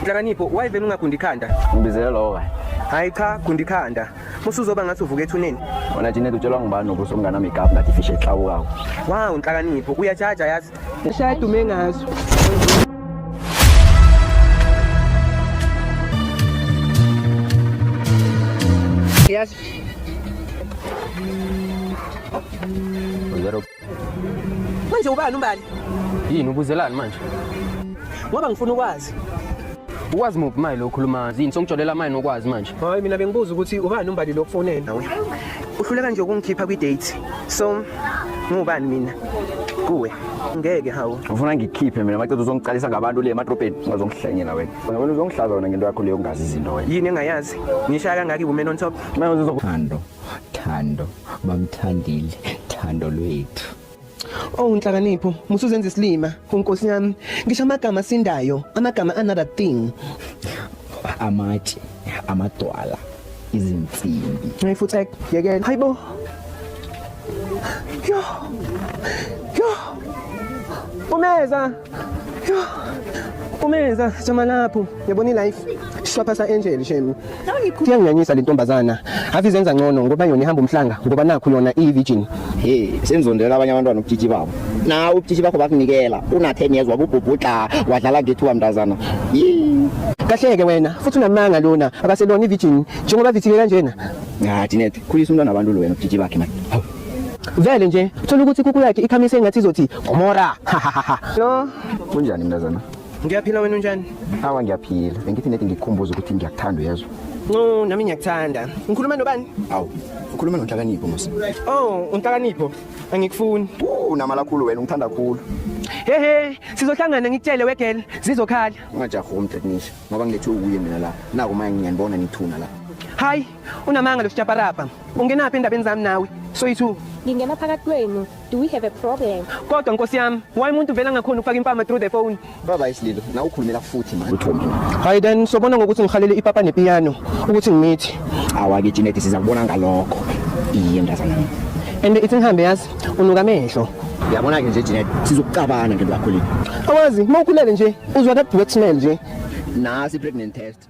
Nhlakanipho why vele ungagundi ikhanda? Ngibizele lowo kanye. Hayi cha gundi ikhanda. Musuzoba ngathi uvuka ethuneni. Wena Janet utshelwa ngubani ukuthi umngana makeup ngathi fish ehlawukawo. Wow nhlakanipho uyajaja yazi. Shaya dume ngazo. Yes. Uyaro Manje ubani umbali? Yini ubuzelani manje? Ngoba ngifuna ukwazi. Ukwazi muphi mayi lo khuluma yini songijolela mayi nokwazi manje. Hayi mina bengibuza ukuthi ubani umbali lo kufonela nawe. Uhluleka nje ukungikhipha kwi date. So ngubani mina? Kuwe. Ngeke hawu. Ufuna ngikhiphe mina maqeda uzongiqalisa ngabantu le emadrobheni ungazongihlanyela wena. Wena uzongihlaza wena ngento yakho leyo ungazi izinto wena. Yini engayazi? Ngishaya kangaki women on top? Manje uzokuthando. Thando bamthandile thando lwethu. Oh nhlakanipho, musuzenza isilima. Unkosi yami, ngisho amagama sindayo, amagama another thing. Amatshe, amadwala, izinsimbi. Hey futhi yekela. Hayibo. Yo. Yo. Umeza. Umenza jama lapho yabona ilife shwapha sa angel shemi kuyanganyanyisa le ntombazana ave izenza ngcono ngoba yona ihamba umhlanga ngoba nakho yona iyi virgin hey senzondela abanye abantwana ubutshitshi babo na ubutshitshi bakho bakunikela una 10 years wabubhubhudla wadlala ngethuka mntazana Yee. kahleke wena futhi unamanga lona akaselona ivirgin njengoba vithike kanjena ngathi net khulisa umntwana abantu lo wena ubutshitshi bakhe manje Vele nje thola ukuthi kuku yakhe ikhamise engathi izothi Gomora. No. Kunjani mntazana? Ngiyaphila wena unjani? Awa ngiyaphila. Bengithi nedi ngikukhumbuza ukuthi ngiyakuthanda uyezwa. No, nami ngiyakuthanda. Ngikhuluma nobani? Awu, ukhuluma noNhlakanipho musa. Oh, uNhlakanipho. Angikufuni. Unamala khulu wena ungithanda khulu. Hehe, sizohlangana ngikutshele wegel, zizokhala. Ungajahi umntetnisha ngoba ngilethe ukuye mina la. Naku manje ngiyanibona nithuna la. Hayi, Unamanga lo sjaparapa. Ungenaphi endabeni zami nawe? Soyithu. Ngingena phakathi kwenu. Do we have a problem? Kodwa nkosi yami, why umuntu vela ngakhona ukufaka impama through the phone? Baba isililo, na ukhulumela futhi manje. Utho mina. Hayi then sobona ngokuthi ngihalele ipapa nepiano ukuthi ngimithi. Awake Jeanette sizakubona ngalokho. Iye mntazana. And ithi ngihambe yazi unuka amehlo. Yabona ke nje Jeanette sizokucabana ngento yakho le. Awazi, mawukhulele nje uzwa that wet smell nje. Nasi pregnant test.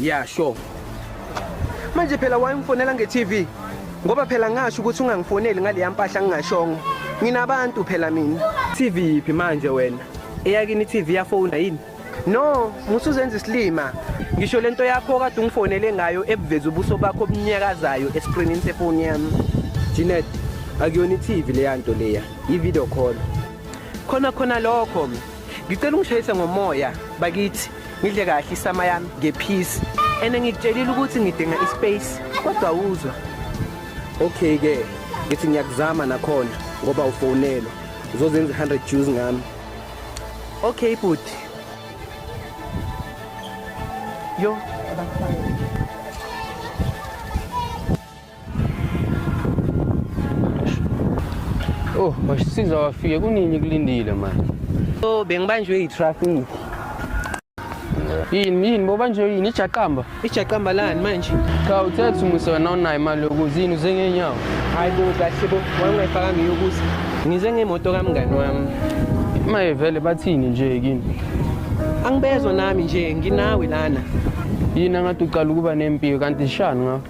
Yeah, sure. Manje phela wayemfonela nge-TV ngoba phela ngasho ukuthi ungangifoneli ngaleya mpahla ngingashongo. Nginabantu phela mina. TV yiphi manje wena? Eyakini i-TV yafona yini? No, musuzenza isilima. Ngisho lento yakho kade ungifonele ngayo ebuveza ubuso bakho obunyakazayo escreenini sefoni yami. Janet, akuyona iTV leya nto leya, i-video call. Khona khona lokho. Ngicela ungishayise ngomoya bakithi. Ngidle kahle isama yami ngephisi. Ene ngikutshelile ukuthi ngidinga ispace kodwa uzwa. Okay ke, ngithi ngiyakuzama nakhona ngoba ufonelwa. Uzozenza 100 Jews ngami. Okay bhuti. Yo, Oh, wasisiza wafike kunini kulindile manje. so bengibanjwe yitraffic. yini yini boba nje yini ijaqamba ijaqamba lani manje cha uthethe umusa wena unayo imali yokuza yini uze ngenyawo hayi bo kahle bo wayengayifakanga iyokuza ngize ngemoto kamngani wami maye vele bathini nje kini angibezwa nami nje nginawe lana yini angathi uqala ukuba nempilo kanti shani ngakho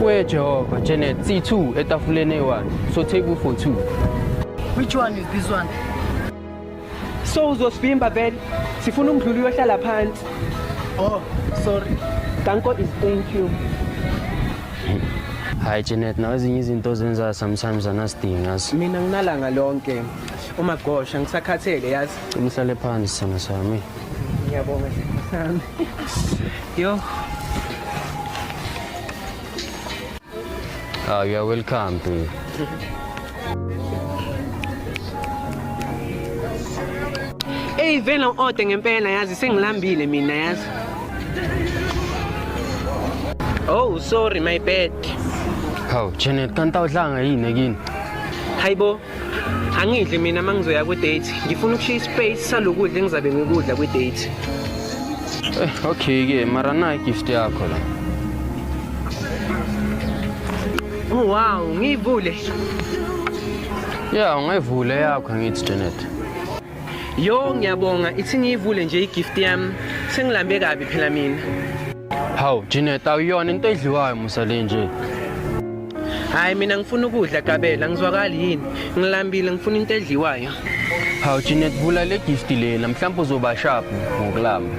Wee Jehova, Janet, C2 etafuleni eyi-1. So take u for 2. Which one is this one? So uzosivimba vele. Sifuna umdluli uyohlala phansi. Oh, sorry. Danko is thank you. Hayi Janet, nawe ezinye izinto ozenzayo sometimes anasidingi yazi. Mina nginalanga lonke. Uma gosha ngisakhathele yazi. Umhlale phansi sana sami. Ngiyabonga sami. Yo. Ah, you are welcome to. Hey vele ode ngempela yazi sengilambile mina yazi. Oh, sorry my bad. Hawu, Janet, kanti awudlanga yini ekini? Hayibo. angidli mina uma ngizoya kwi-date ngifuna ukushiya ispace salokudla engizabe ngikudla kwi-date eh, okay-ke mara nayi gift yakho la oh, wow ngiyivule ya ungayivule yakho angithi janet Yo ngiyabonga ithi ngiyivule nje igift yami sengilambe kabi phela mina. Hawu Janet awuyona into edliwayo musa le nje. Hayi mina ngifuna ukudla gabela ngizwakali yini ngilambile ngifuna into edliwayo. Hawu Janet vula le gift lena mhlawumbe uzoba sharp ngokulamba.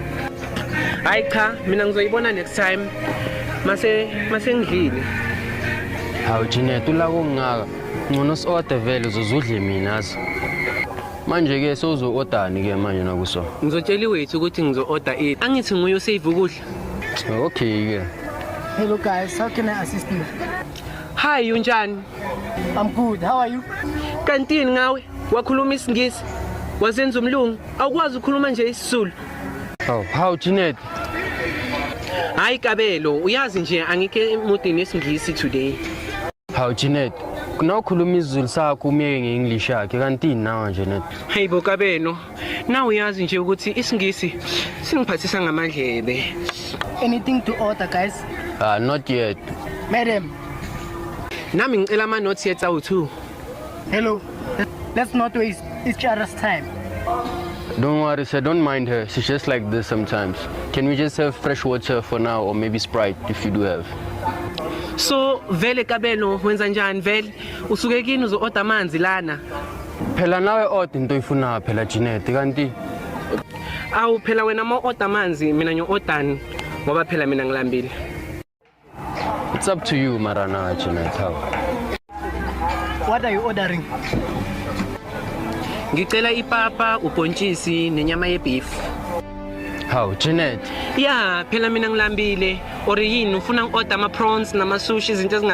Hayi cha mina ngizoyibona next time mase mase ngidlile. Hawu Janet ulako ngaka Ngcono si-order vele uzozudle mina azi. Manje-ke sewuzo-ordani-ke manje nakuso? Ngizotshela iwethu ukuthi ngizo-order ini. Angithi nguye osave ukudla. Okay-ke. Hello guys, how can I assist you? Hi, unjani? I'm good. How are you? Kantini ngawe? Wakhuluma isingisi? Wazenza umlungu? Awukwazi ukukhuluma nje isizulu? Oh, how Janet? Hayi kabelo, uyazi nje angike emudini esingisi today. Hawu Janet, kunawukhuluma isiZulu sakho umyeke nge-English yakhe kanti nawa nje net. Hey bo kabeno, nawe uyazi nje ukuthi isiNgisi singiphathisa ngamadlebe. Anything to order guys? Ah not yet. Madam, Nami ngicela ama notes ye tsawu 2. Hello. Let's not waste each other's time. Don't worry, sir. Don't mind her. She's just like this sometimes. Can we just have fresh water for now or maybe Sprite if you do have? So vele kabelo wenza njani vele usuke kini uzo order amanzi lana Phela nawe order into oyifunayo phela Janet kanti awu phela wena ma order amanzi mina ngiyo ordani ngoba phela mina ngilambile It's up to you mara na Jeanette how. What are you ordering? Ngicela ipapa, ubhontshisi nenyama yebeef. How Jeanette? Yeah, phela mina ngilambile. Or yini ufuna ngi-order ama prawns nama sushi izinto ezinga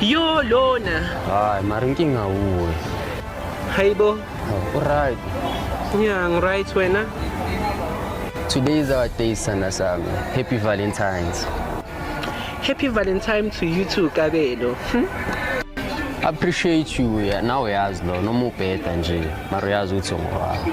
yo lona hayi mara inkinga wuwe hayibo uright ya ngiright wena today is our day sana sami happy valentines happy valentine to you too kabelo hmm? appreciate you nawe yazi lo noma ubheda nje mara uyazi ukuthi ungowami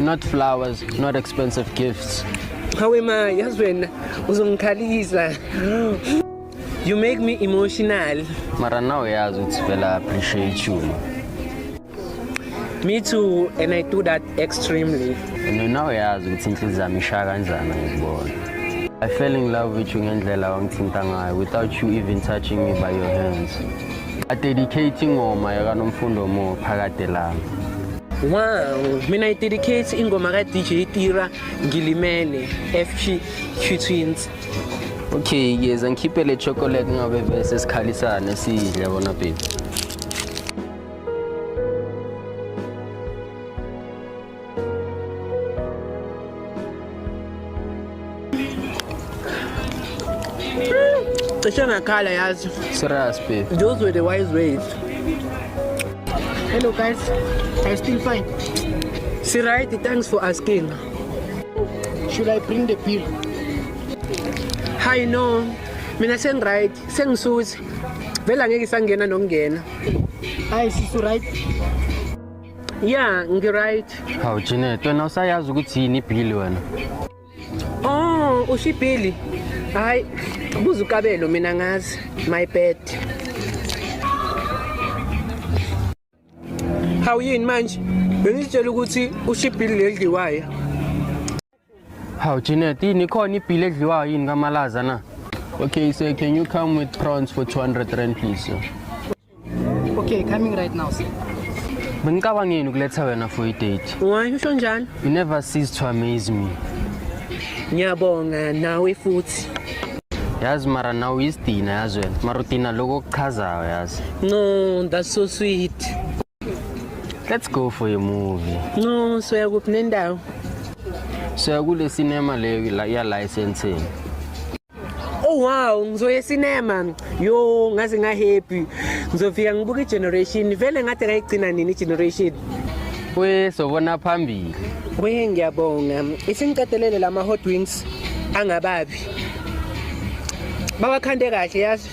not flowers, not expensive gifts. Hawe ma, yazi wena uzongikhalisa. You make me emotional. Mara now uyazi ukuthi vele I appreciate you. ma. Me too, and I do that extremely. And now uyazi ukuthi inhliziyo yami ishaya kanjani ngikubona. I fell in love with you ngendlela wangithinta ngayo without you even touching me by your hands. adedicate ingoma yakanomfundo mo phakade lami Wow, mina i-dedicate ingoma ka-DJ Tira ngilimele FG Q Twins. Okay, ngiyeza ngikhiphe le chocolate ngabe bese sikhalisane sidle bona baby. cishe ngakhala yazi serious babe those were the wise ways hello guys i still fine si right thanks for asking should i bring the bill hi no mina sengiright sengisuthi vele angeke isangena nokungena hayi sisi right ya ngiright hawu janet wena usayazi ukuthi yini ibhili wena oh usho ibhili hhayi buza ukabelo mina ngazi my bad hawu yini manje bengizitshela ukuthi usho ibhili leli liwaya Hawu Jeanette, yini khona ibhili edliwayo yini kamalaza na? Okay, sir, can you come with prawns for 200 rand please? Sir? Okay, coming right now, sir. Bengicabangeni ukuletha wena for i-date. Why usho njalo? You never cease to amaze me. Ngiyabonga nawe futhi. Yazi mara nawe uyisidina yazi wena. Mara udina lokho okuchazayo yazi. No, that's so sweet. Let's go for a movie. No, soya kuphi nendawo? Soya kule cinema leyo la ya licensing. Oh wow, ngizoya cinema. Yo, ngaze nga happy. Ngizofika ngibuka igeneration. Vele ngathi ngayigcina nini igeneration? We sobona phambili. We ngiyabonga. Isingiqedelele lama hot wings angababi. Bawakhande kahle yazi.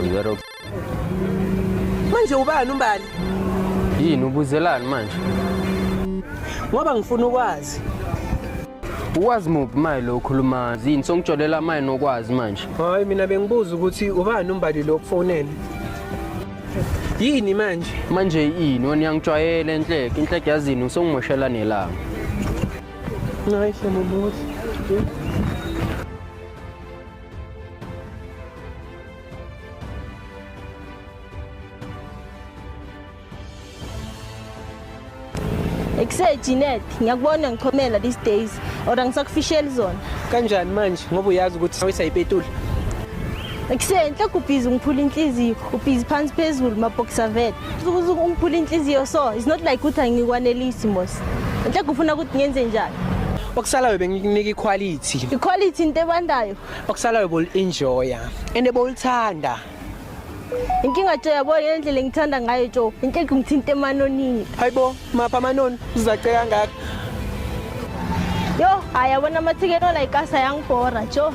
Uyaro Manje ubani umbali? yini ubuzelani manje? Ngoba ngifuna ukwazi. Ukwazi muphi maye lo ukhuluma yini songitsholela maye nokwazi manje? Hayi mina bengibuza ukuthi ubani umbali lo kufonele. Yini manje? Manje yini wena uyangijwayela enhleke, inhleke yazini usongimoshela nelanga. Ekuse Jeanette, ngiyakubona ngichomela these days or angisakufisheli zona. Kanjani manje ngoba uyazi ukuthi sawisa ipetula? Ekuse enhle kubhizi ngiphula inhliziyo, ubhizi phansi phezulu mabhoxer vet. ungiphula inhliziyo so it's not like ukuthi angikwanelisi mos nhle kufuna ukuthi ngenze njani okusalayo bengikunika iquality iquality into ebandayo okusalayo bol-enjoya and bolithanda inkinga jo yabo yena ndlela engithanda ngayo jo inhle kungithinta emanonini hayi bo mapha amanoni uzace kangaka yo hayi yabona amathikeni olayikasa yangibhora jo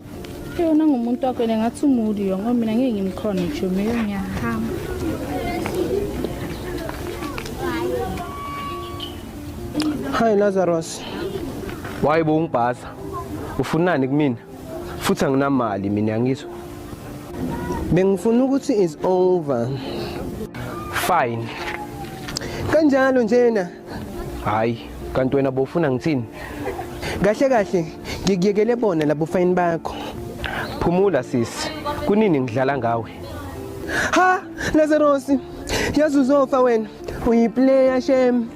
yona ngumuntu wakho yena ngathi umuli yo ngoba mina ngeke ngimkhona ngisho meyo ngiyahamba hi lazarus waye bo ungibhaza ufunani kumina futhi anginamali mina ngizwa bengifuna ukuthi is over fine kanjalo njena hayi kanti wena bofuna ngithini kahle kahle ngikuyekele bona labo fayini bakho phumula sisi kunini ngidlala ngawe ha lazarosi yazi uzofa wena uyiplayer shem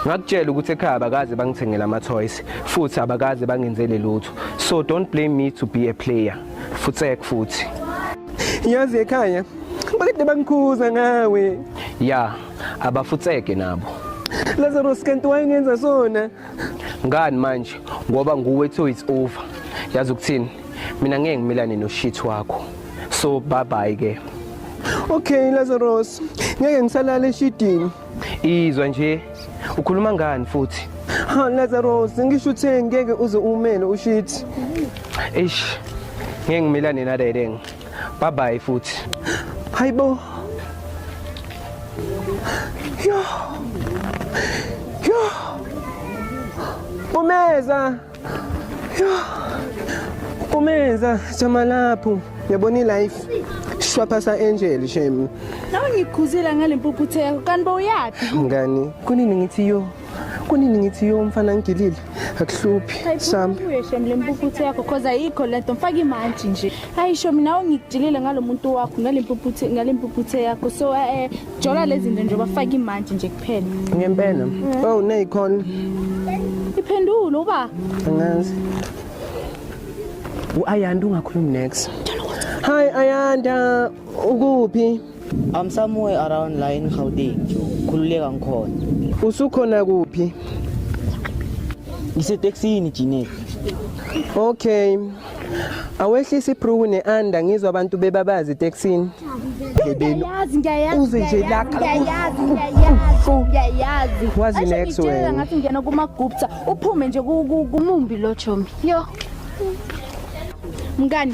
ngakutshela ukuthi ekhaya abakaze bangithengele ama-toys futhi abakaze bangenzele lutho so don't blame me to be a player futsek futhi yazi ekhaya bakade bangikhuza ngawe ya abafutseke nabo Lazarus kanti wayengenza sona ngani manje ngoba nguwe to it's over yazi ukuthini mina ngeke ngimilane noshit wakho so bye bye ke Okay Lazarus ngeke ngisalala eshidini izwa nje ukhuluma ngani futhi ha Lazarus ngisho uthe ngeke uze umele ushit eish ngeke ngimilane nalelenge Bye bye futhi. Hayibo. Yo. Yo. Umeza. Yo. Umeza jama lapho. Yabona ilife. Shwaphasa angel shame. Nawe ngikhuzile ngalempuphutheko kanti bowuyaphi? Mngani, kunini ngithi yo. kunini ngithi yo mfana ngigilile akuhluphi sambe uyeshem le mpuphuthe yakho cause ayikho le nto mfaka imantshi nje hayi sho mina ungigilile ngalo muntu wakho ngale mpuphuthe ngale mpuphuthe yakho so eh jola lezi zinto nje bafaka imantshi nje kuphela ngempela mm. oh neyikhona iphendule uba angazi uayanda ungakhulumi next hi ayanda ukuphi I'm somewhere around la in Gauteng nje khululeka ngikhona usukhona kuphi ngiseteksini Janet okay awehlisa ibruku ne-anda ngizwa abantu bebabazi eteksini ebeni Ngiyayazi, ngiyayazi, uze nje ngiyayazi, lakha ngiyayazi, ngiyayazi, ngiyayazi. Wazi Aisha, next ngitshela wena. ngathi ngena kumagupta uphume nje ku- ku- kumumbi lo chomi yo mngani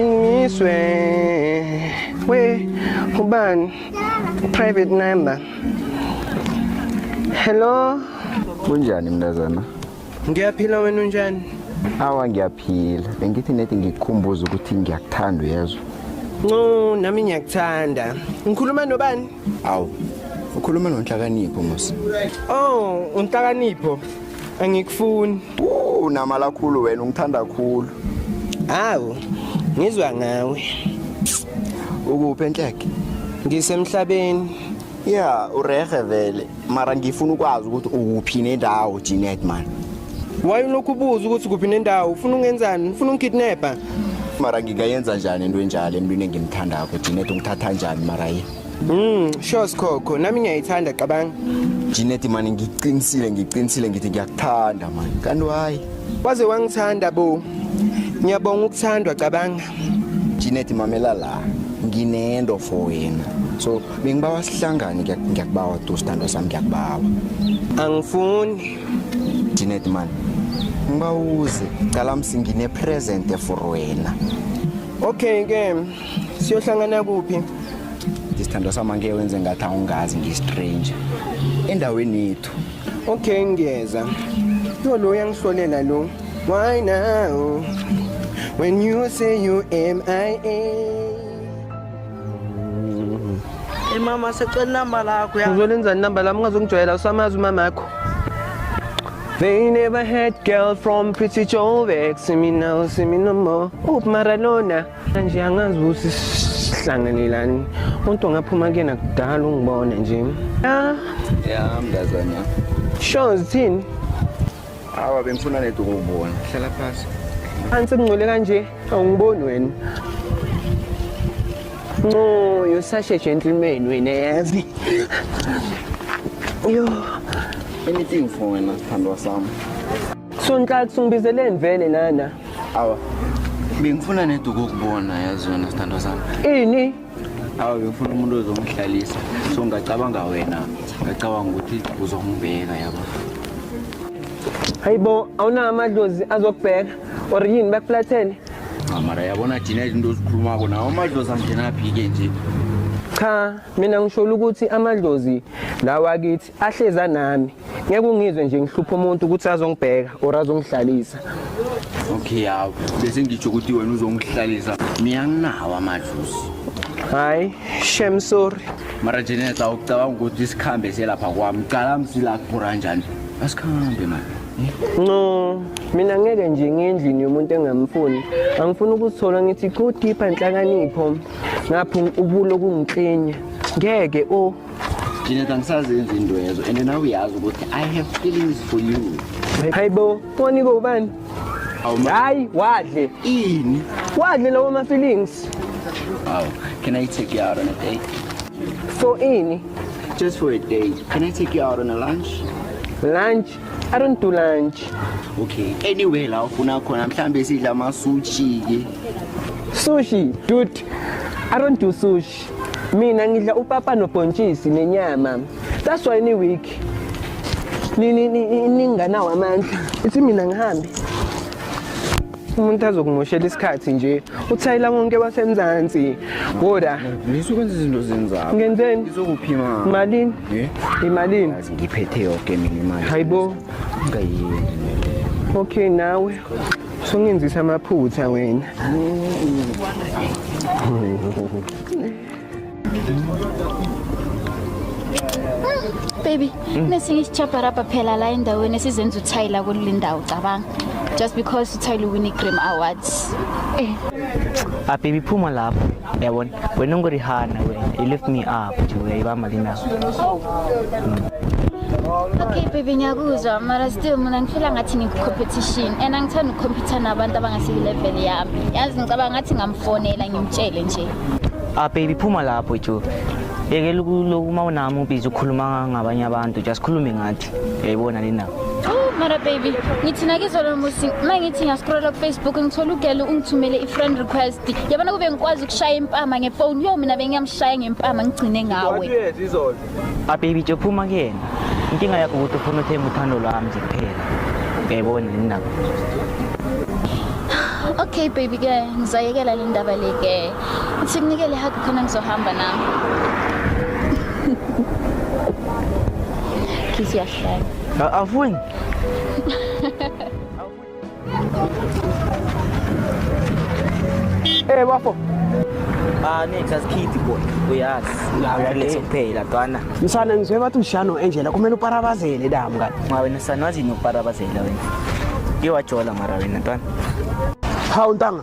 Ngizwe we ubani private number. Hello. Kunjani mntazana? Ngiyaphila wena unjani? Awa ngiyaphila. Bengithi nethi ngikukhumbuza ukuthi ngiyakuthanda uyezwa. No, nami ngiyakuthanda. Ngikhuluma nobani? Awu. Ukhuluma nonhlakanipho mos. Oh, unhlakanipho. Angikufuni. Unamala khulu wena ungithanda khulu. Hawu, ngizwa ngawe. Ukuphi enhleke? Ngisemhlabeni. Yeah, urehe vele. Mara ngifuna ukwazi ukuthi ukuphi nendawo Jeanette man. Why ulokhu ubuza ukuthi kuphi nendawo? Ufuna ungenzani? Ufuna ungikidnapper? Mara ngingayenza njani into enjalo emntwini engimthandako Jeanette ungithatha njani mara yini? Mm, sure Sikhokho, nami ngiyayithanda cabanga. Jeanette mani ngiqinisile ngiqinisile ngithi ngiyakuthanda mani. Kanti why? Waze wangithanda bo. Ngiyabonga ukuthandwa cabanga. Jeanette mamela la. Nginento for wena. So bengibawa sihlangane ngiyakubawa tu sithandwa sami ngiyakubawa. Angifuni. Jeanette mani. Ngibawuze, cala msingine present for wena. Okay ke. siyohlangana kuphi isithandwa sami angeke wenze ngathi awungazi ngiyistranger endaweni yethu okay ngiyeza yo lo uyangihlolela lo why now when you say you mia Hey mama secela inamba lakho ya. uzolenzani namba lami ungazongijwayela usamazi umama akho They never had girl from Pretty Joe Vex, see me now, see me no more. Oop, Maradona. nje angazi ukuthi sihlanganelani umuntu ongaphuma kuyena kudala ungibone nje ya ya mntazana sure zithini awa bengifuna nedi ukubona hlala phasi phansi kungcole kanje awungiboni wena no you're such a gentleman wena yazi yo anything for wena sithandwa sami Sonhlaka sungibizeleni vele nana. Awa. Bengifuna neduku ukubona yazi wena sithandwa sami. Ini? Awa bengifuna umuntu ozongihlalisa. So ngacabanga wena. Ngacabanga ukuthi uzongibheka yabo. Hayibo awunawo amadlozi azokubheka or yini bakuflathele? Ah, mara yabona thina izinto ozikhulumako nawo amadlozi angenaphi-ke nje cha mina ngisho ukuthi amadlozi lawa kithi ahleza nami ngeke ungizwe nje ngihlupha umuntu ukuthi azongibheka or azongihlalisa okay hawu bese ngitsho ukuthi wena uzongihlalisa mina nginawo amadluzi hayi shem sorry mara jeneta ucabanga ukuthi isikhambe selapha kwami cala msila kuphura njani asikhambe mani no mina ngeke nje ngendlini yomuntu engamfuni angifuni ukuzithola ngithi go deeper nhlakanipho ngapho ubulo kungiklenya ngeke o oh. Jeanette angisazenzi indwezo and nawe uyazi ukuthi I have feelings for you. Hayibo, wani ko ubani? Hayi, wadle. Ini? Wadle lawo ma feelings. Wow, can I take you out on a date? For ini? Just for a date. Can I take you out on a lunch? Lunch? I don't do lunch. Okay. Anyway, la ufuna khona mhlambe sidla ama sushi ke. Sushi, dude. I don't do sushi. Mina ngidla upapa nobhontshisi nenyama. That's why ni week. Ni ni ni ninganawo amandla. Ithi mina ngihambe. Umuntu azokumoshela isikhathi nje. Uthayila wonke wasemzansi. Ngoda. Ngisuke kwenza izinto zenzako. Ngenzeni? Ngizokuphima. Malini? Eh? Imalini? Yazi ngiphethe yonke mina imali. Hayibo. Ngayini. Okay nawe. Sungenzisa amaphutha wena. Baby, mm. nesinye isichaparapa phela la endaweni esizenza uthayila kuleli ndawo cabanga. Just because uthayile win i-Grim Awards. Eh. Ah baby phuma lapho. Yabona. wena unguri hana wena you lift me up nje uyayibamba lina okay baby ngiyakuzwa mara still mina ngifila ngathi ngikucompetition and angithanda ukucompetha nabantu abangasiyilevel yami yazi ngicabanga ngathi ngamfonela ngimtshele nje ah baby phuma lapho jo yekela ukuloku uma unami ubizi ukhuluma ngabanye abantu just khulume ngathi yayibona nini na mara baby ngithi nakizolo musi uma ngithi ngiyasikrola kufacebook ngithola ugele ungithumele i-friend request yabona kube ngikwazi ukushaya impama ngefoni yo mina bengiyamshaya ngempama ngigcine ngawe ababy ah, jophuma kuyena inkinga yakho ukuthi ufuna uthemba uthando lwami nje kuphela uyayibona nini nabo okay baby ke ngizayekela le ndaba le ke Athi kunikele hug khona ngizohamba nami. Kiss yahlala. Afuni. Eh bafo. Ah next as kid boy. Uyazi. Uyazi kuphela twana. Msana ngizwe bathi ushano enjela kumele uparabazele damu kani. Ma wena sana wazi noparabazela wena. Ngiwajola mara wena twana. Hawu ntanga.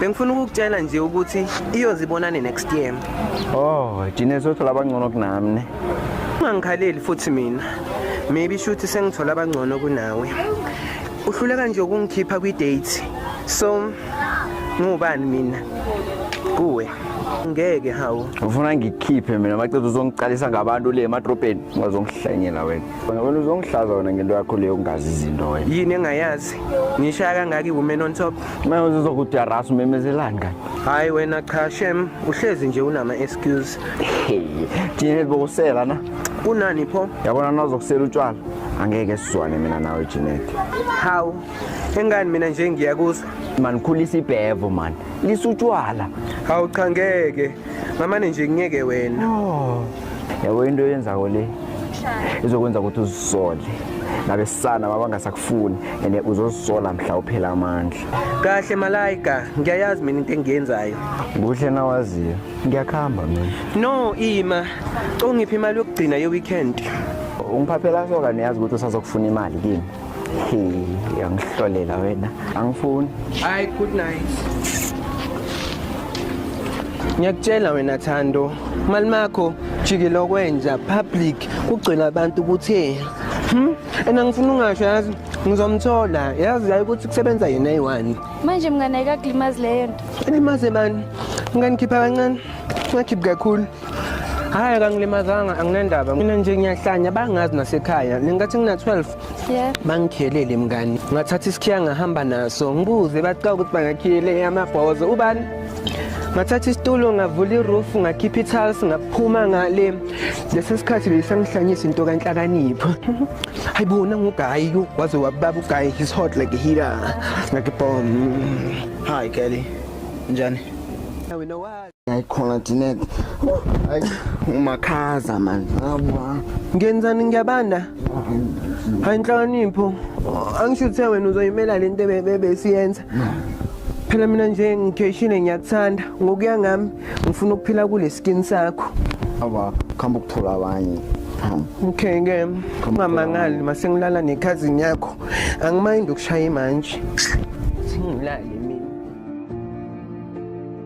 Bengifuna ukukutshela nje ukuthi iyozibonane next year. Oh, Jine sothola abangcono kunami ne. Ungangikhaleli futhi mina. Maybe shuthi sengithola abangcono kunawe. Uhluleka nje ukungikhipha kwi date. So ngubani mina? Kuwe. Ngeke hawo. Ufuna ngikhiphe mina macethu uzongiqalisa ngabantu le emadrobheni ungazongihlanyela wena. Wena wena uzongihlaza wena ngento yakho leyo kungazi izinto wena. yini engayazi ngishaya kangaka iwoman on top Manje uzokudarasa umemezelani kanye. hhayi wena cha shem uhlezi nje unama-excuse Hey, thina libokusela na. kunani pho Yabona nazokusela utshwala. Angeke sizwane mina nawe Janet. hawu engani mina nje ngiyakuzwa Man khulisa ibhevo man. Lisutshwala. hawu cha ngeke ngamane nje ngiyeke wena oh. yabo into yenzako le izokwenza ukuthi uzisole nabesana babangasakufuni and uzozisola mhla uphela amandla kahle malayika ngiyayazi mina into engiyenzayo kuhle nawaziyo ngiyakuhamba mina no ima congiphi imali yokugcina ye-weekend ungiphaphela soka niyazi ukuthi usazokufuna imali kimi uyangihlolela wena angifuni hayi good night ngiyakutshela wena thando mali makho jikile okwenja public kugcwele abantu ukuthi Hmm? And angifuni ungasho yazi ngizomthola yazi yayi ukuthi kusebenza yena eyi-one manje mngane ayikakulimazi leyo nto ilimaze bani nganikhipha kancane ngakhiphi kakhulu Hayi kangilimazanga anginendaba. Mina nje ngiyahlanya bangazi nasekhaya. Ngingathi ngina 12. Yeah. Bangikhelele mngani. Ngathatha isikhiya ngahamba naso. Ngibuze baqa ukuthi bangakhiyele amabhozo. Ubani? Ngathatha isitulo ngavula iroof ngakhipha itiles ngaphuma ngale. Lesi sikhathi beyisangihlanyisa into kanhlakanipho. Hayibo nangugayi waze wababa ugayi his hot like a heater. Ngakibom. Hi Kelly. Njani? Now we know why. Hayi khona Jeanette. Hayi umakhaza man. Hawa. Ngenzani ngiyabanda? Hayi inhlakanipho. Angisho uthe wena uzoyimela lento ebebe siyenza. Phela mina nje ngikeshile ngiyakuthanda. Ngokuya ngami ngifuna ukuphila kule skin sakho. Hawa, khamba ukuthola abanye. Okay ke ungamangali masengilala nekhazini yakho. Angimayindi ukushaya manje. Singilale.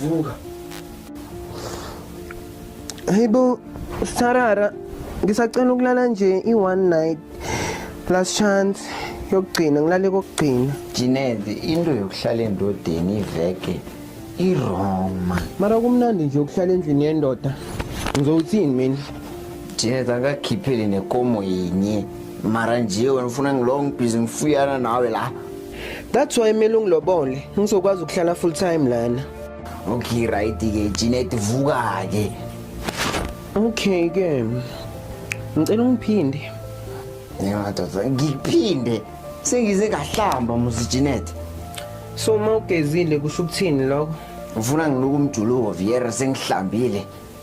Vuka. Hayibo Sarara ngisacela ukulala nje i one night last chance yokugcina ngilale kokugcina. Jinede into yokuhlala endodeni iveke i wrong man. Mara kumnandi nje ukuhlala endlini yendoda. Ngizowuthini mina? Jinede akakhiphele nekomo yinye. Mara nje wena ufuna ngilong busy ngifuyana nawe la. That's why mina ungilobole ngizokwazi ukuhlala full time lana. Okay right ke Jeanette vuka ke. Okay ke. Ngicela ungiphinde. Ngiyadoda ngiphinde sengize ngahlamba muzi Jeanette. So uma ugezile kusho ukuthini lokho? Ufuna ngiluke umjuluko Viera sengihlambile.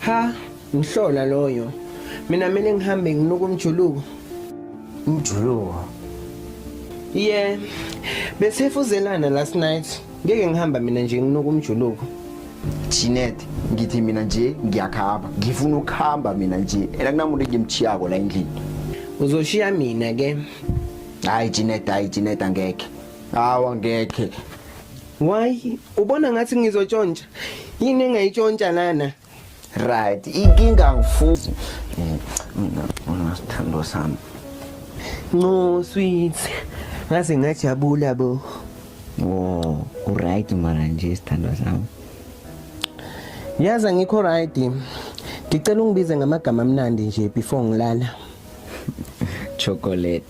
Ha, ngihlola loyo. Mina mele ngihambe nginuka umjuluko. Umjuluko. Yeah. Besefuzelana last night. Ngeke ngihamba mina nje nginuka umjuluko. Chinet ngithi mina nje ngiyakhamba ngifuna ukuhamba mina nje ena kunamuntu engimchiyako la endlini uzoshiya mina ke hayi Chinet hayi Chinet angeke hawa ngeke Why? Ubona ngathi ngizotshontsha. Yini engayitshontsha lana? Right. Inkinga ngifuzi. Mina mina sithando sami. No sweet. Ngaze ngajabula bo. Oh, u right mara nje sithando sami. Yaza ngikho right. Ngicela ungibize ngamagama amnandi nje before ngilala. Chocolate.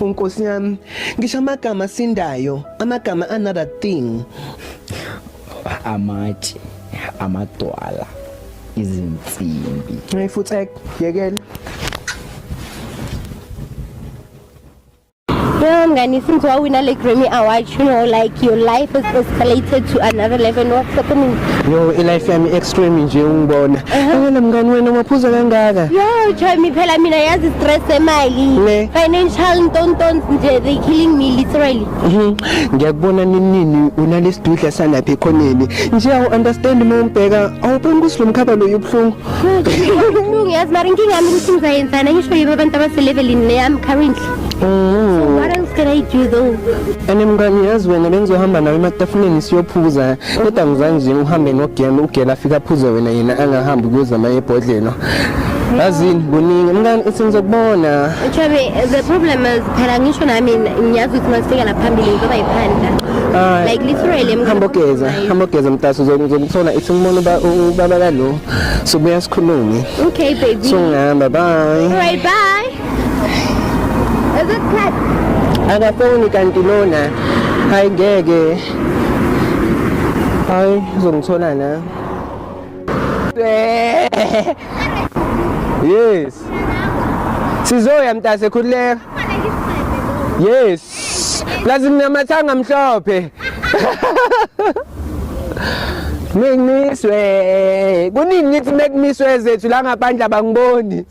Nkosi yami, ngisho amagama asindayo, amagama another thing. Amatshe, amadwala, izinsimbi. Hey futhi ek, yekela. Yho mngani since wawina le Grammy Award you know like your life has escalated to another level and what's happening yo ilife yami extreme nje ungibona ngena mngani wena umaphuza kangaka yo joy mi phela mina yazi stress emali financial ntontons nje they killing me literally mhm. ngiyakubona ninini unalesidudla sanapha ekhoneni nje awu understand uma umbheka awuboni ukuthi lo mkhaba lo yobhlungu ubuhlungu yazi mara inkinga yami ukuthi ngizayenzana ngisho yibo abantu abaselevelini leyami currently What else can I do though? And mngani yazi wena bengizohamba nawe ematafuleni siyophuza kodwa ngizange nje uhambe nogela ugela afika aphuze wena yena angahambi kuyozama ebhodlela yazini kuningi mngani ithi ngizokubona Chabe, the problem is phela ngisho nami ngiyazi ukuthi masifika la phambili ngizoba yiphanda. Hayi. Like literally hamba ogeza hamba ogeza mtaso uzokuthola ithi ngibona uba- u- ubaba kalo sobuya sikhulume Okay baby. so ngihamba bye Alright bye. akafoni kanti lona hayi ngeke hayi uzongithola na yes sizoya mntase khululeka yes plus nginamathanga mhlophe Mekmiswe. Kuningi ngithi mekmiswe zethu la ngaphandle abangiboni.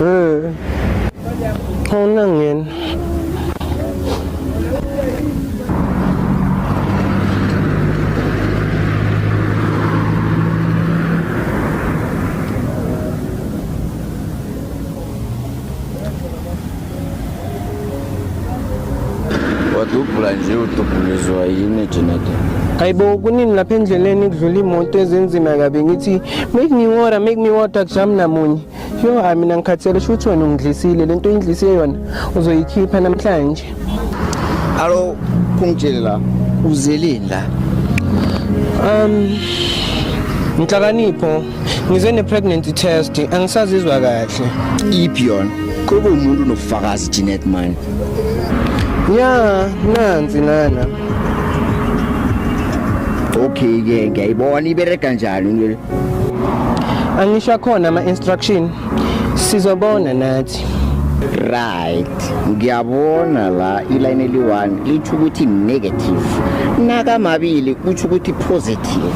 Eh. Hauna ngena. wadubhula nje udubhulizwa yini ejeneta hayibo kuningi lapha endleleni kudlula imoto ezinzima kabi ngithi make me water make me water kujami namunye yo hayi mina ngikhathele shuthi wena ungidlisile le nto oyindlise yona uzoyikhipha namhlanje alo kungitshele la uzeleni la um nhlakanipho ngize ne-pregnancy test angisazizwa kahle iphi yona kube umuntu unobufakazi jeanette mani ya nansi nana okay ke ngiyayibona ibereka njani into le angisho khona ama-instruction sizobona nathi right ngiyabona la iline eli-one litho ukuthi negative nakamabili kutho ukuthi positive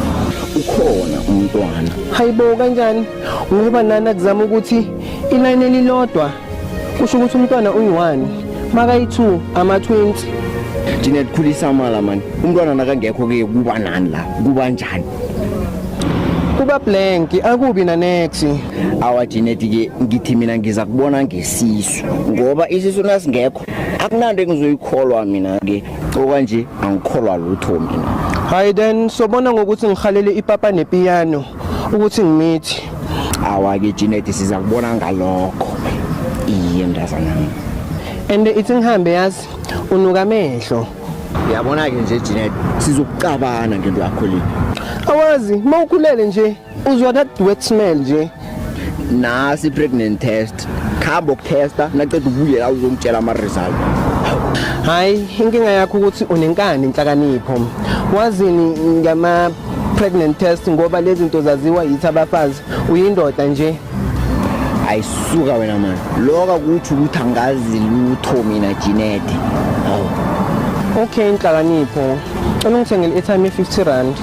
ukhona umntwana hayibo kanjani ngoba nana kuzama ukuthi iline elilodwa kusho ukuthi umntwana uyi-one makayi-two ama-twenty thina likhulisa amala mani umntwana nakangekho ke kuba nani la kuba njani kuba blank akubi nanex awa jineti ke ngithi mina ngiza kubona ngesisu ngoba isisu nasingekho akunanto engizoyikholwa mina ke okwanje angikholwa lutho mina hayi then sobona ngokuthi ngihalele ipapa nepiyano ukuthi ngimithi awake Janet siza kubona ngalokho iye mntazana and ithi ngihambe yazi unuka amehlo yabona ke nje Janet sizokucabana ngento yakho le awazi mawukhulele nje uzwa that wet smell nje nasi pregnant test khamba ukutesta naqeda ubuye la uzongitshela ama result hayi inkinga yakho ukuthi unenkani inhlakanipho wazini ngama pregnant test ngoba lezi zinto zaziwa yithi abafazi uyindoda nje ayisuka wena mani loka kuthi ukuthi angazi lutho mina jinete hawu okay inhlakanipho cela ungithengele i-airtime ye-50 rand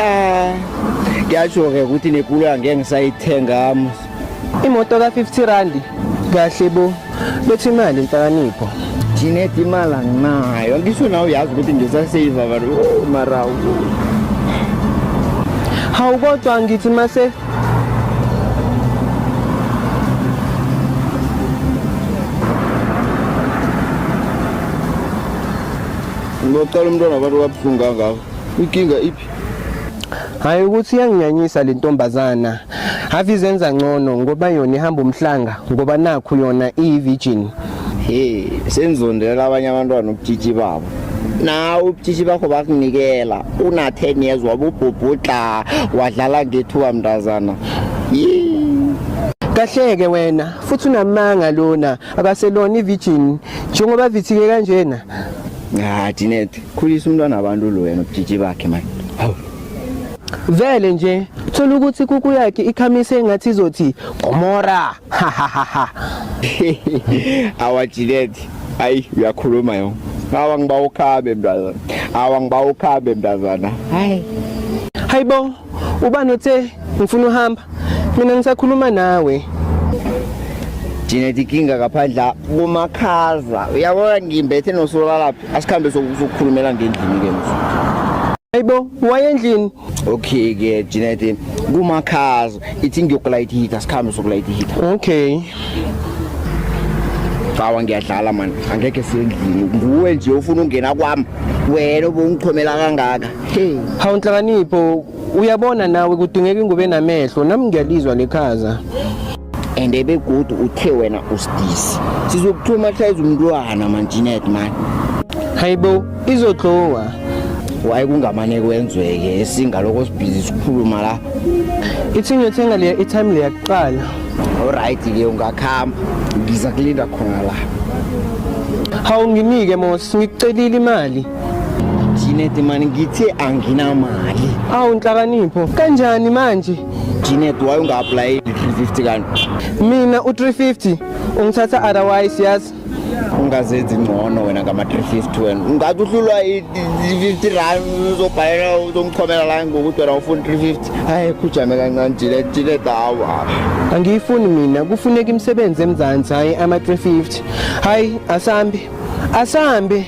um kuyasho-ke ukuthi nekula ngeke ngisayithenga imoto ka-50 randi kahle bo bethi imali inhlakanipho Jeanette imali anginayo angisho nawe uyazi ukuthi ngisasave abantu oh, mara hawu kodwa ngithi mase ngocela umntwana abantu wabuhlungu kangako inkinga hayi ukuthi iyanginyanyisa le ntombazana have izenza ngcono ngoba yona ihamba umhlanga ngoba nakhu yona iyi-virgin he senzondela abanye abantwana ubutshitshi babo nawe ubutshitshi bakho bakunikela una-ten years wabubhubhudla wadlala ngethuba mntazana kahleke wena futhi unamanga lona akaselona i-virgin njengoba vithike kanjena ha dinete Khulisa umntwana abantu lo wena ubujiji bakhe manje. Hawu. Vele nje thola ukuthi kuku yakhe ikhamise engathi izothi Gomora. Ha ha ha ha. Awajileti. Ayi uyakhuluma yo. Awa ngiba ukhabe mntazana. Awa ngiba ukhabe mntazana. Hayi. Hayibo Ubani othe ngifuna uhamba? Mina ngisakhuluma nawe. Thina tikinga kaphandla kumakhaza. Uyabona ngimbethe nosola laphi? Asikhambe sokukhulumela ngendlini ke mfo. Hayibo, wayendlini. Okay ke Jinete, kumakhaza. Ithi ngiyokulayithi heater, sikhambe sokulayithi heater. Okay. Cawa ngiyadlala man, angeke sendlini. Nguwe nje ufuna ungena kwami. Wena ubungichomela kangaka. Hey. Hawu Nhlakanipho uyabona nawe kudingeka ingubo enamehlo nami ngiyalizwa lekhaza. and ebegodu uthe wena usidisi sizokuthoma hlayiza umntwana manjinet mani Hayibo izodlowa. waye kungamane kwenzeke esingaloko sibhizi sikhuluma la Ithi ngiyothenga le i-time le yakuqala. olright ke ungakhamba ngiza kulinda khona la Hawu nginike Mos ngikucelile imali. Janet mani ngithe anginamali awu nhlakanipho kanjani manje Janet why unga-apply 350 kanti mina u-350 ungithatha otherwise yazi ungazenzi ngcono wena ngama-350 wena ungathi uhlulwa i-50 rand uzobhalela uzomchomela la ngokuthi wena ufuna 350 hayi khujame kancane jile jile dawa angiyifuni mina kufuneka imisebenzi emzansi hhayi ama-350 hhayi asambi asambi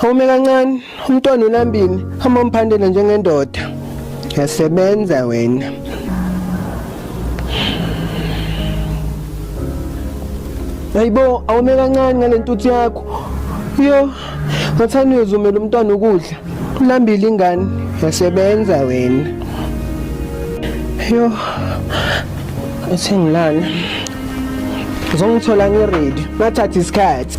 Home kancane umntwana ulambile hamba mphandela njengendoda yasebenza wena Hayibo awume kancane ngalentuthu yakho yo ngathani uyozumela umntwana ukudla ulambile ingane yasebenza wena yo uthengilana uzongithola ngeready nathatha isikhathi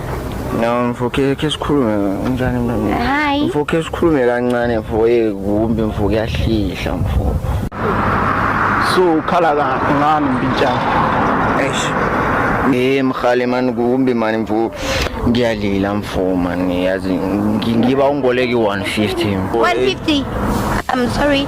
No mfokhe ke sikhulume unjani mntwana? Hayi. Mfokhe sikhulume kancane mfo ye kumbi mfo kuyahlihla mfo. So ukhala ka ngani mpintshana? Eish. Eh mkhale man kumbi mani mfo ngiyalila mfo mani yazi ngi- ngiba ungoleki 150 mfo. 150. I'm sorry.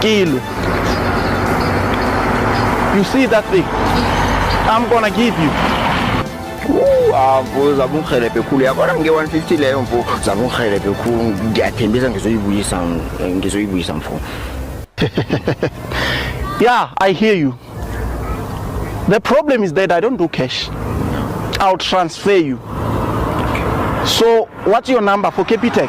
Kilu. You see that thing? I'm gonna give you. Mfo zabe ungihelebhe khulu yabona nge-150 leyo mfo zabe ungihelebhe khulu ngiyathembisa ngizoyibuyisa ngizoyibuyisa mfo yeah i hear you the problem is that i don't do cash i'll transfer you so what's your number for capitec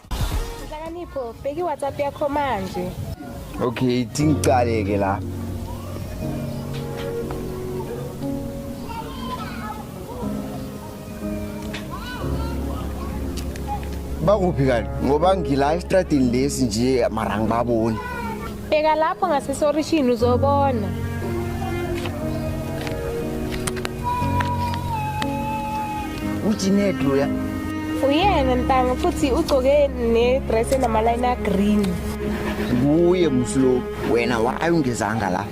Nhlakanipho, bheka iWhatsApp yakho manje. Okay, tingiqale ke la. Bakuphi kanti? Ngoba ngila estradini lesi nje mara ngibaboni. Bheka lapho ngasesorishini uzobona. Ujined loya. Uyena ntanga futhi ugcoke nedress enamaline agreen. Kuye mslo wena waye ungezanga la.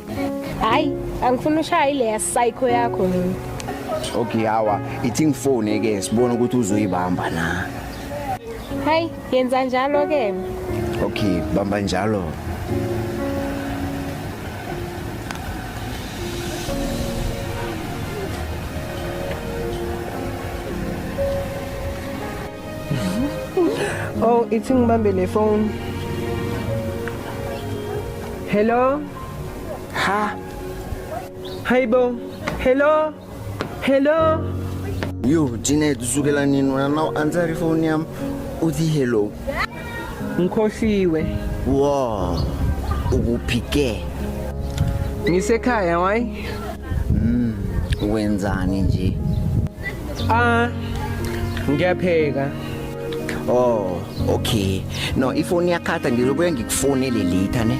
Hayi, angifuni ushaye le psycho yakho mina. Okay hawa, ithi ngifone ke sibone ukuthi uzoyibamba na. Hayi, Yenza njalo ke. Okay, bamba njalo. Oh, ithi ngibambe le phone. Hello? Ha? Hayibo. Hello? Hello. Yo, Janet, usukela nini wena na u-answer ifoni yami uthi hello. Ngikhohliwe. Wow. Ukuphi ke? Ngisekhaya why? Mm, wenzani nje? Ah, ngiyapheka. Oh, okay. No, ifoni yakhatha ngizobuya ngikufonele later ne.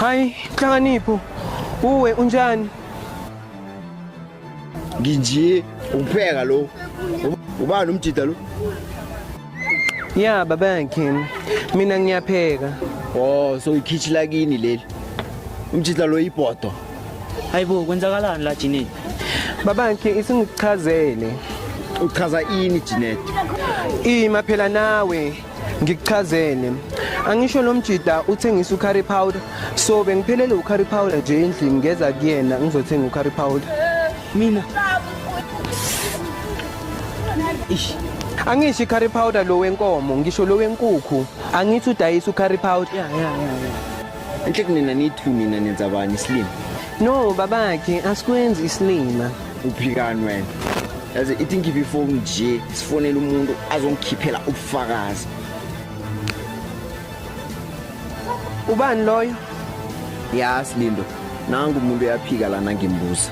Hayi, Nhlakanipho, uwe unjani? Nginje ukupheka lo. Ubani umjida lo? Ya baba yakhe. Mina ngiyapheka. Oh, so ikhichi lakini leli. Umjida lo ibhodo. Hayibo kwenzakalani la Jineti? Baba yakhe isingichazele. Uchaza ini Jineti? Ima phela nawe. ngikuchazele angisho lo mjida uthengisa ucurry powder so bengiphelele ucurry powder nje endlini ngeza kuyena ngizothenga ucurry powder mina ish angisho curry powder lo wenkomo ngisho lo wenkukhu angithi udayisa ucurry powder ya ya ya enhle kunina nithu nina nenza bani isilima no babakhe asikwenzi isilima uphikani wena yazi ithi ngikhiphe ifoni nje sifonele umuntu azongikhiphela ubufakazi ubani loyo ya silindo nangu umuntu uyaphika lana ngimbuza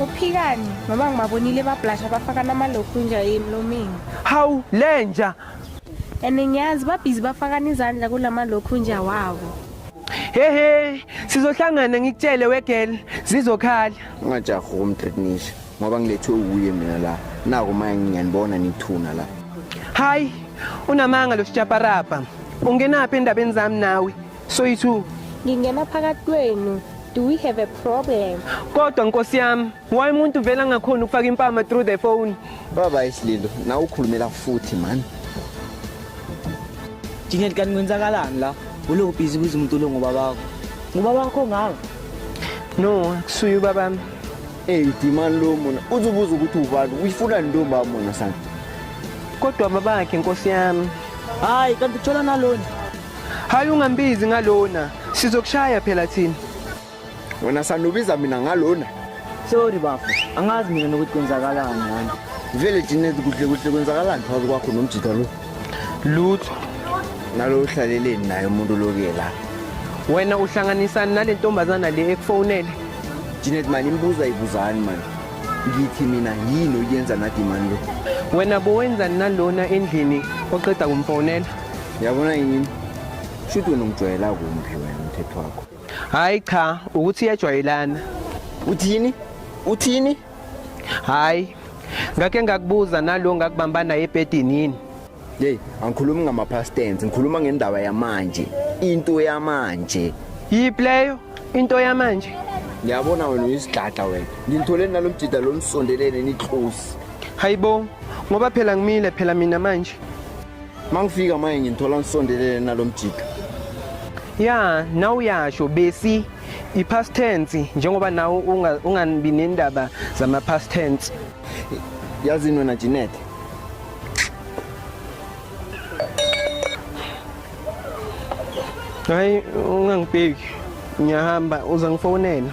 uphikani mama ngibabonile bablasha bafaka namalokhunja emlomeni hawu lenja and ngiyazi babhizi bafakana izandla kula malokhunja wabo hehe sizohlangana ngikutshele wegel zizokhala ungajahi ukumtreatnisha ngoba ngilethwe uwuye mina la naku manje ngiyanibona nithuna la hayi unamanga lo sitshaparapa ungenaphi endabeni zami nawe Soyithu, ngingena phakathi kwenu. Do we have a problem? Kodwa nkosi yami, why umuntu vela ngakhona ukufaka impama through the phone? Baba isililo, na ukhulumela futhi man. Jingel kanti kwenzakalani la? Uloku busy kuze umuntu lo ngoba bakho. Ngoba bakho ngaka. No, kusuye ubaba mi. Hey, dimani lo mona. Uzobuza ukuthi ubani, uyifuna ntombi amona sana. Kodwa babakhe nkosi yami. Hayi, kanti uthola nalona. Hayi ungambizi ngalona, sizokushaya phela thina. Wena sanubiza mina ngalona. Sorry bafo, angazi mina nokuthi kwenzakalani ngani. Vele thina kuhle kuhle kwenzakalani phakathi kwakho nomjita lo? Lutho. Nalo uhlaleleni naye umuntu lokuye la. Wena uhlanganisani nale ntombazana le ekufonele? Janet mani imbuza ibuzani mani. Ngithi mina yini oyenza nathi mani lo? Wena bowenzani nalona endlini oqeda kumfonela? yabona yini shuthi wena ungijwayela kumphi wena umthetho wakho hayi cha ukuthi iyajwayelana uthini uthini hayi ngake ngakubuza nalo ngakubamba naye ebhedini yini yeyi angikhulumi ngama-past tense ngikhuluma ngendaba yamanje into yamanje yiphi leyo into yamanje ngiyabona wena uyisidlada wena ngimtholeni nalo mjida lo nisondelene nihlosi hayibo ngoba phela ngimile phela mina manje mangifika manje nginthola ngisondelele nalomjika ya nawe uyasho besi i-past tense njengoba nawe ungabi nendaba zama-past tense yazini wena Jeanette hayi ungangibheki ngiyahamba uza ngifonela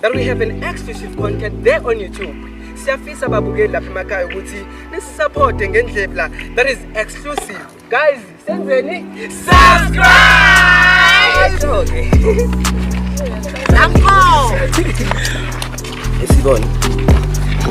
that we have an exclusive content there on YouTube. Siyafisa babukeli lapha emakhaya ukuthi nisisupporte ngendlela that is exclusive. Guys, senzeni? Subscribe! Lapho! Esibone.